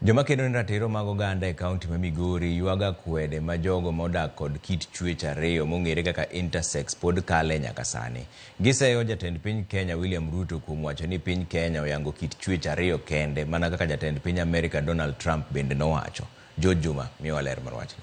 Joma kedo ne ratiro mag oganda e kaunti ma Migori ywago akwede ma jogo ma odak kod kit chuech ariyo mong'ere kaka intersex pod kale nyaka sani. Giseyo jatend piny Kenya William Ruto kuom wacho ni piny Kenya oyango kit chuech ariyo kende mana kaka jatend piny Amerika Donald Trump bende nowacho. George Juma miyowa ler mar wachni.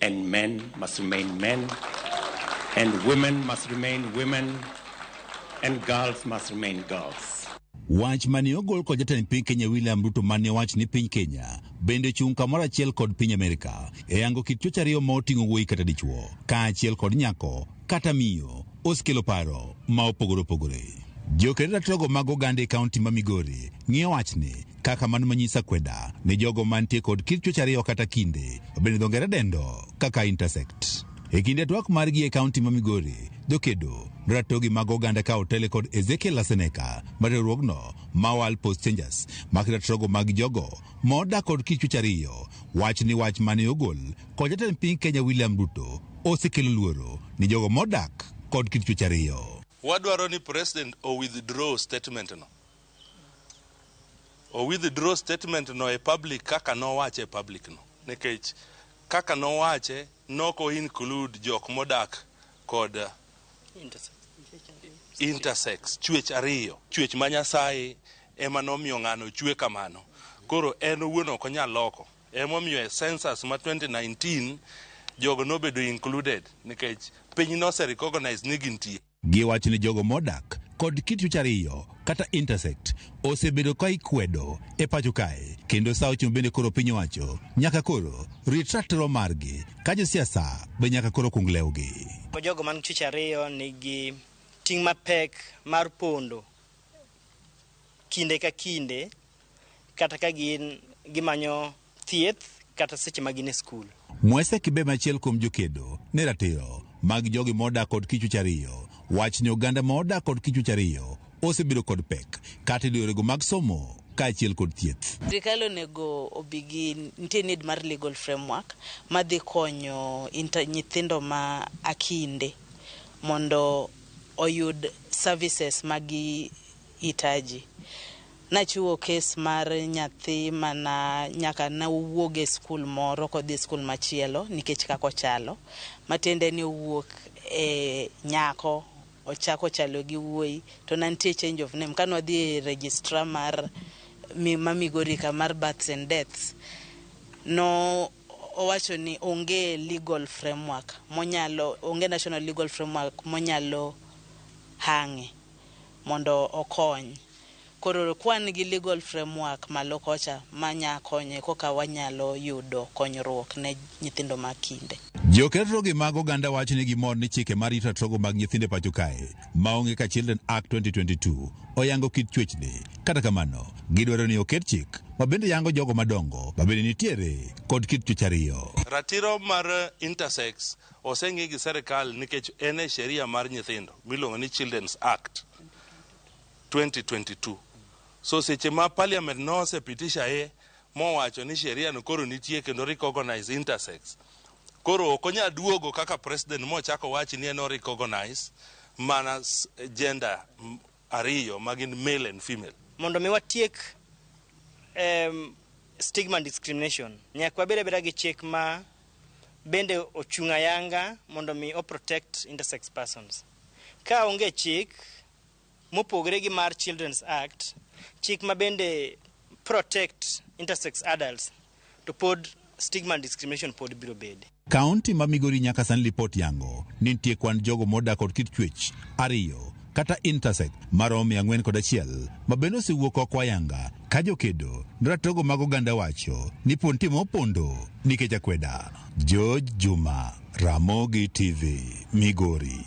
and men must remain men, and women must remain women, and girls must remain girls. Wach mane ogol kod jatend piny Kenya William Ruto mane owach ni piny Kenya bende chung' kamoro achiel kod piny Amerika e yango kit chuech ariyo ma oting'o wuoyi kata dichuo kaachiel kod nyako kata miyo osekelo paro ma opogore opogore. Jokedo ratogo mag oganda e kaunti ma Migori ng'iyo wachni kaka mano manyisa kweda ni jogo mantie kod kit chuech ariyo kata kinde bende dho ngere dendo kaka intersect e kinde twak margi e kaunti ma migori jokedo ratogi mag oganda ka otele kod ezekiel aseneka ma riwruogno ma wal post changers ma kiratogo mag jogo ma odak kod kit chuech ariyo wach ni wach mane ogol kod jatend piny kenya william ruto osekelo luoro ni jogo modak kod kit chuech ariyo wadwaro ni president o withdraw statement no O withdraw statement no e public kaka nowache e public no. Nikech kaka nowache nok o include jok modak kod intersex, chwech ariyo. Chwech ma Nyasaye ema nomiyo ng'ano ochwe kamano. Koro en owuon ok onyal loko. Emomiyo e census ma 2019 jogo nobedo included nikech piny nose recognize ni gintie. Giwacho ni jogo modak kod kit chuech ariyo kata intersect osebedo ka ikwedo e pacho kae kendo sa ochung bende koro piny owacho nyaka koro rit ratiro margi ka josiasa be nyaka koro kung lewgi. Jogo man chuech ariyo nigi ting' mapek mar pondo kinde ka kinde kata ka gin gimanyo thieth kata seche ma gin e skul. Mwese Kibe machiel kuom jokedo ne ratiro mag jogi modak kod kichwech ariyo wach ni oganda ma odak kod kichwech ariyo osebedo kod pek kata e yorego mag somo kaachiel kod thieth. Sirkal onego obi gi nitie need mar legal framework madhi konyo inter, nyithindo ma akinde mondo oyud services ma gihitaji. Nachiwo kes mar nyathi ma na nyaka ne owuog e skul moro kodhi e skul machielo nikech kaka ochalo, matiende ni owuok e nyako ochako chalo gi wuoyi to na nitie change of name. Kane wadhi e registrar mar ma Migori ka mar births and deaths, no owacho ni onge legal framework monyalo, onge national legal framework monyalo hang'e. mondo okony. Koro ka wan gi legal framework malo kocha ma nya konye koka wanyalo yudo konyruok ne nyithindo ma kinde. Joketrogi mag oganda wacho ni gimor ni chike ma rito ratogo mag nyithindo e pacho kae ma onge ka Children Act 2022 oyango kit chuech ni. Kata kamano, gidwaro ni oket chik ma bende yango jogo madongo ma bende nitiere kod kit chuech ariyo. Ratiro mar intersex Oseng'i gi serikal nikech en e sheria mar nyithindo miluongo ni Children's Act 2022. So seche ma parliament nose pitisha ye mowacho ni sheria no koro nitie kendo recognize intersex, koro ok onyal duogo kaka president mochako wachi ni en o recognize mana gender ariyo ma gin male and female. Mondo mi watiek em, stigma and discrimination nyaka wabed abeda gi chik ma bende ochung' ayanga mondo mi o protect intersex persons. Ka onge chik mopogre gi mar Children's Act, chik ma bende protect intersex adults to pod stigma and discrimination pod biro bede. Kaunti ma Migori nyaka sani lipot yango ni nitie kwan jogo modak kod kit chuech ariyo kata intersex maromo mia ang'wen kod achiel ma bende osewuok oko ayanga ka jokedo ne ratogo mag oganda wacho ni pon timo opondo nikech akweda. George Juma, Ramogi TV, Migori.